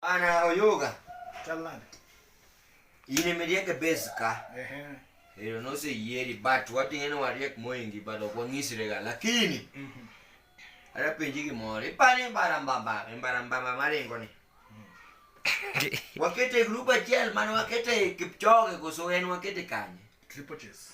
Ana oyoga. Talan. Ine medieke beska. Ehe. Ero no se yeri but what ene wariek moingi but ok wang'isrega lakini mm -hmm. ara penji gimoro ipani mbarambamba mbarambamba maringo ni wakete grup achiel mane wakete Kipchoge koso en wakete kanye? Triple chase.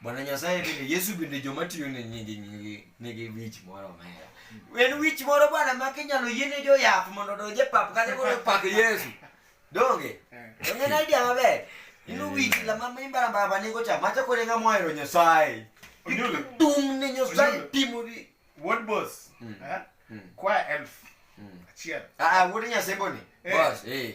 Bwana Nyasaye bende Yesu bende joma tiyo ne nyingi nyingi nigi wich moro omera. En wich moro bwana ma kinyalo yiene jo yath mondo odonj e pap kata koro pak Yesu. Donge? Donge na idea maber. Inu eh. wich la mama imbara mbara baningo cha macha kore ngamo ohero Nyasaye. Onyulo. Tum ne Nyasaye timo di. What boss? Hmm. Eh? Hmm. Kwa elf. Hmm. Achiel. Ah, ah wuod Nyasaye boni. Eh. Boss, eh.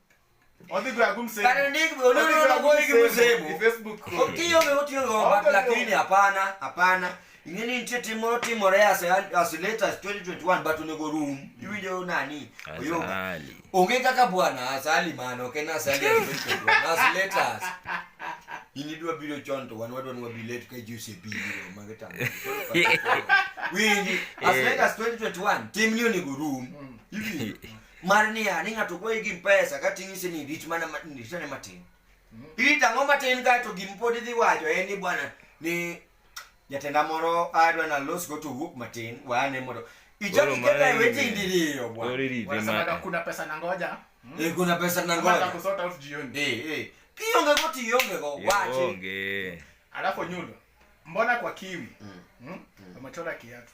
lakini hapana hapana ingeni nitie timo timore as, as late as 2021 but onego rum iwinjo nani oyo onge kaka bwana asali mano ok en asali as 2021 as late as in idwa biro chon to wan wadwa ni wabi late ka ji osebiro mago tamo winji as late as 2021 timni onego rum iwinjo mar niya ni ng'ato kwayi gi pesa kati ng'ise ni rit mana ritane matin mm-hmm. irit ang'o matin kae to gim pod idhi wacho en ni bwana ni jatenda moro adwa nalos go to wuok matin waane mondo ichak iketa e weti ndiriyo bwana kuna pesa na ngoja hmm? eh, kuna pesa na ngoja kusota out jioni eh eh kionge go tionge go wache onge alafu nyundo mbona kwa kiwi mm. mm? mm. amechora kiatu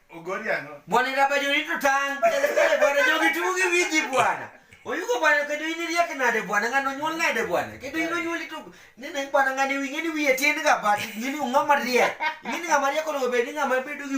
Bwana inabajwa ni tutang. Bwana jogi tumu gi wiji bwana. Oyugo bwana kedo ini riya kenade bwana ngano nyuol ngade bwana. Kedo ino nyuol itu ni neng bwana ngani wingi ni wiye tin ga bat. Ngini ngama riya. Ngini ngama riya kono bedi ngama bedo gi